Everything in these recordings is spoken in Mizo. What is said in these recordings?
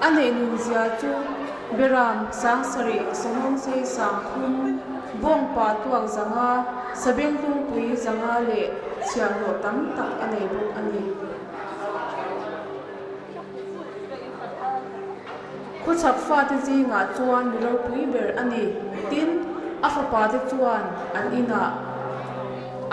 A neih nun zia chu Beram Sangsarih Sawhnawm Sei Sangthum Vawng Pa Tuak Zanga Sabeng Tungpui Zanga leh chhiah hlawh tam tak a nei bawk a ni. Khawchhak fate zingah chuan mi ropui ber a ni tin a fapa te chuan an inah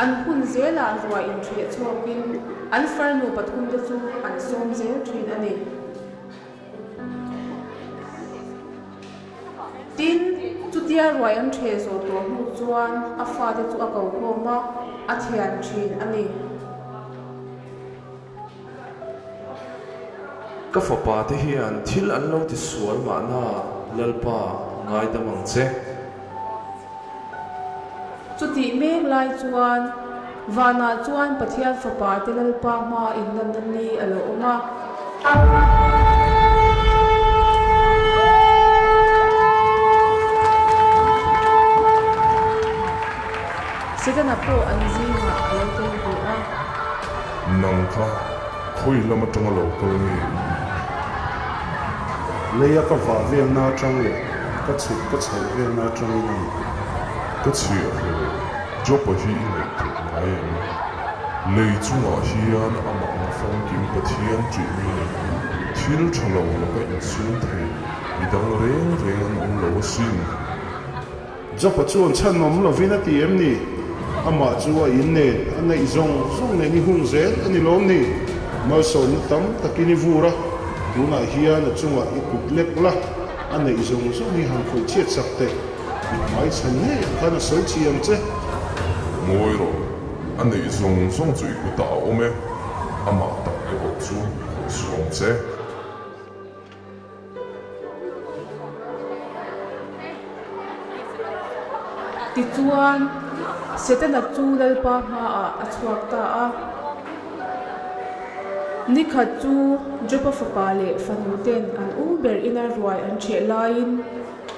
an hun zelah ruah inṭheh chhuakin an farnu pathum te chu an sawm zel ṭhin a ni. Tin, chutia ruai an ṭhe zawh tawh hnu chuan a fate chu a kohlawm a, a thian ṭhin a ni. Ka fapate hian thil an lo ti sual mahna Lalpa, ngaidam ang che. Chu tih mek lai chuan vanah chuan Pathian fapa te Lalpa hma inlanna ni a lo awm a. Setana pawh an zingah a lo tel ve a. Nang kha Khawi lam atanga lo kal nge i ni? Lei a ka vah velna atang leh ka chhuk ka chhoh velna atang i ni. Ka chhiah hle lo. Jopa hi i ngaih theih ngai em i? Lei chungah hian amah nga famkim Pathian tih mai ni. Thil tha lo laka inchhung thei i dang reng reng an awm lo asin. Jopa chuan chhanawm lovin a ti em ni? Amah chu a in nen a neih zawng zawng nen i hung zel a ni lawm ni? Malsawmna tam takin i vur a, tunah hian a chungah i kut lek la, a neih zawng zawng hi han khawih chiat sak teh. I hmai chhan ngei ang khan a sawi chhi ang che. Ngawi rawh, a neih zawng zawng chu i kutah a awm e, amah tak erawh chu a kut suam che. Tichuan, Setana chu Lalpa hmaah a chhuak ta a. Ni khat chu Jopa fapa leh fanute'n an um ber ina ruai an chheh laiin,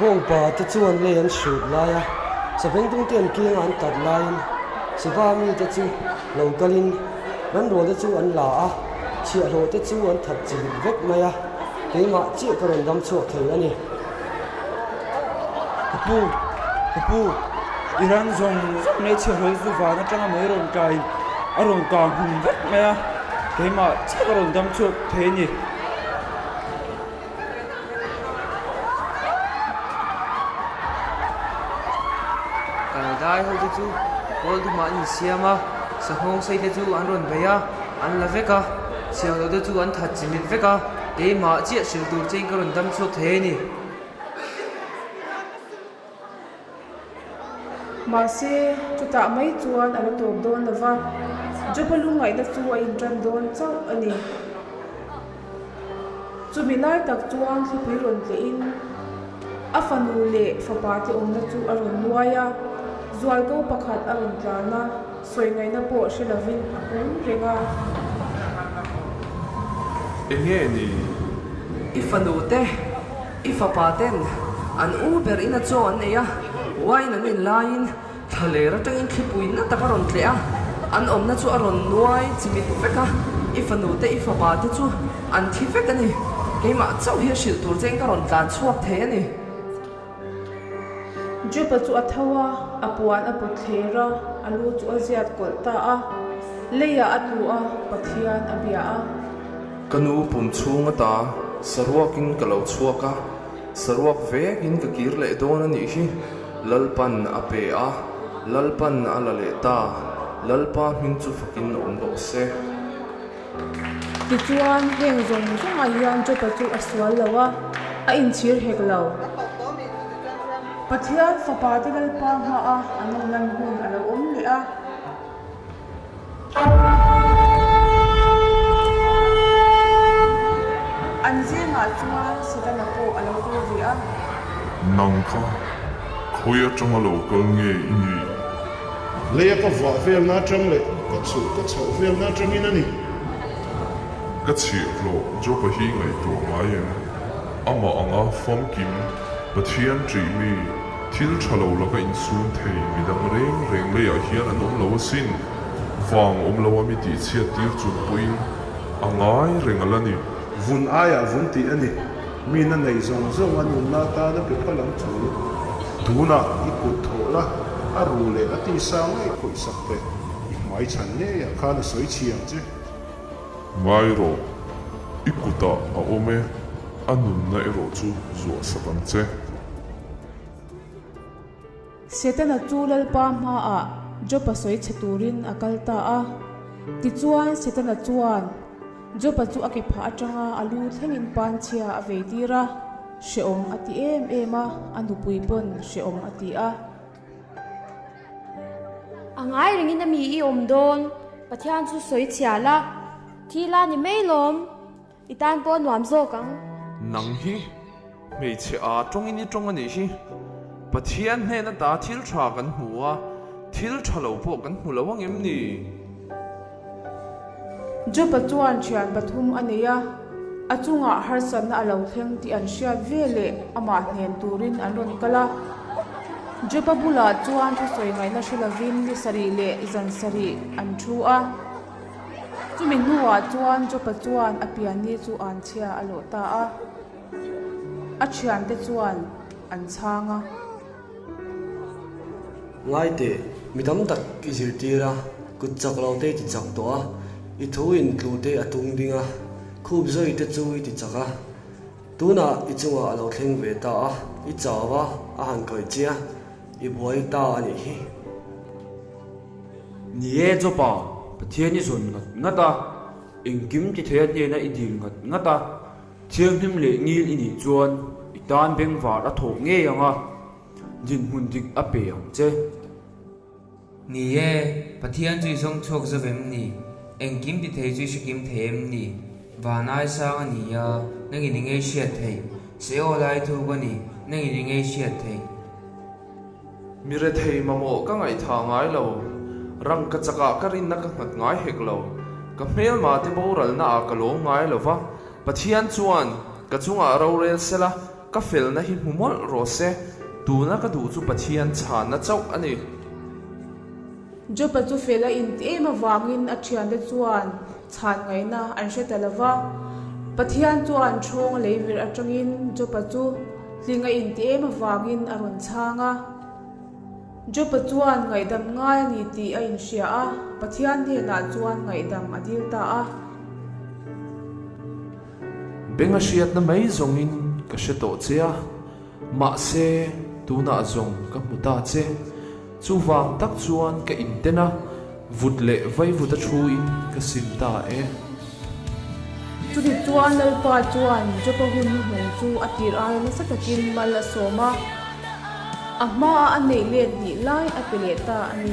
Bawngpa te chuan lei an hrut lai a, saveng dum te an keng a an tat laiin Siva mite chu lo kalin Ranrawl te chu an la a, chhiahhlawh te chu an that chilh vek mai a, keimah chiah ka rawn dam chhuak thei a ni. Ka pu, ka pu, i ran zawng zawng mai chhia hlawih chu van atanga mai rawn tlaiin a rawn kang hung vek mai a, keimah chiah ka rawn dam chhuak thei a ni. Kalidai ho te chu Pawl dumah an insiam a, Sahawng sei te chu an rawn bei a, an la vek a, Siamlo te chu an that chimit vek a. Keimah chiah hrilh tur chin ka rawn dam chhuak hle a ni. Mahse, chutah mai chuan a la tawp dawn lo va, Joba lungngaihna chu a inṭan dawn chauh a ni. Chumi lai tak chuan thlapui rawn tlehin a fanu leh fapa te awmna chu a rawn nuai a, zuaiko pakhat a rawn tlan a. Sawi ngaihna pawh hre lovin a hum reng a. I fanu te, i fapa ten an u ber ina chaw an nei a, wine an in laiin tha ler atangin thlipui na tak a rawn tleh a, an awmna chu a rawn nuai chimit vek a, i fanu te i fapa te chu an thi vek a ni, keimah chauh hi a hrilh tur che in ka rawn tlan chhuak thei a ni. Jupa chu a tho a, a puan a put thler a, a lu chu a ziat kawlh ta a, leiah a tlu a, Pathian a bia a. Ka nu pum chhung a ta, saruakin ka lo chhuak a, saruak vekin ka kir leh dawn a nih hi. Lalpan a pe a, Lalpan a la leh ta, Lalpa hming chu fakin awm rawh se. Tichuan, heng zawng zawngah hian Jopa chu a sual lo a, a inchhir hek lo. Pathian fapa te Lalpa hmaha an lo lan hun a lo awm leh a. An zingah chuan Satana pawh a lo kal ve a. Nang kha khawi atanga lo kal nge i nih? Lei a ka vah vel na atang leh ka chhulh ka chhoh vel na atang in a ni. Ka chhiahhlawh Job-a hi ngaihtuah ngai em? Amah anga famkim Pathian ṭih mi thil ṭha lo laka insûn thei midang rêng rêng leiah hian an awm lo asin. Vâng awm lo a mi tihchhiat tîr chung pawhin a ngai reng alh a ni. Vun aiah vun tih a ni. Mina neih zawng zawng an umna atana pe pal ang chu tunah i kut thawh la, a ru leh a tisa ngai khawih sak te i hmai chhan ngei ah khan a sawi chhi ang che. Ngai rawh, i kutah a awm e, a nunna erawh chu zuah sak ang che. Setana chu Lalpa hmaah Joba sawi chhe turin a kal ta a. Tichuan, Setana chuan Joba chu a ke phah atanga a lu thlengin panchhia a vei tir a, Hrehawm a ti em em a, a nupui pawn hrehawm a ti a. A ngai rengin a mi i awm dawn, Pathian chu sawi chhiah la, thi la ni mai lawm. I tan pawh a nuam zawk ang. Nang hi hmeichhe a tawngin i tawng a nih hi. Pathian hnen ata thil tha kan hmu a, thil tha lo pawh kan hmu lo ang em ni? Job-a chuan thian pathum a nei a, a chungah harsatna a lo thleng tih an hriat ve leh amah hnen turin an rawn kal a. Job-a bulah chuan thusawi ngaihna hre lovin ni sarih leh zan sarih an thu a. Chumi hnuah chuan Job-a chuan a pianni chu an chhia a lawh ta a, a thiante chuan an chhang a. Ngaite, mi tam tak i zirtir a, kut chak lo te i ti chak tawh a, i thu in tlute a tung ding a, khup zawi te chu i ti chak a, tunah i chungah a lo thleng ve ta a, i chau a, a han khawih che a, i buai ta a nih hi. Ni e Jopa, Pathian i zawn ngat ngat a, engkim tithei-a hnena i dil ngat ngat a, thianghlim leh ngil i nih chuan i tan beng var a thawh ngei ang a, dinhmun dik a pe ang che. Ni e, Pathian chu i zawng chhuak zauh em ni? Engkim tithei chu i hrekim thei em ni? Van ai sang a nia, nangin i ngaihriat theih. Seola i thu ka ni, nangin i ngaihriat theih. Mi rethei mamawh ka ngaihtha ngai lo, rang ka chak ah ka rinna ka nghat ngai hek lo, ka hmelma te boralna ah ka lawm ngai lo va, Pathian chuan ka chungah rorel sel a, ka felna hi hmu mawlh rawh se, tuna ka duh chu Pathian chhanna chauh a ni. Jopa chu fel a in em avangin a thiante chuan chhan ngaihna an hre ta lo va. Pathian chuan thawng lei virh atangin Jopa chu hling a in ti em avangin a rawn chhang a. Jopa chuan ngaihdam ngai a ni tih a in hria a, Pathian hnenah chuan ngaihdam a dil ta a. Benga hriatna mai zawngin ka hre tawh che a. Mahse, tunah zawng ka hmu ta che. Chuvang tak chuan ka inten a, vut leh vaivut a thuin ka sim ta e. Chutih chuan Lalpa chuan Jopa hun hi hmawng chu a tirhai nasa takin mal a sawm a, a hmaa a neih let hnih lai a pe leh ta a ni.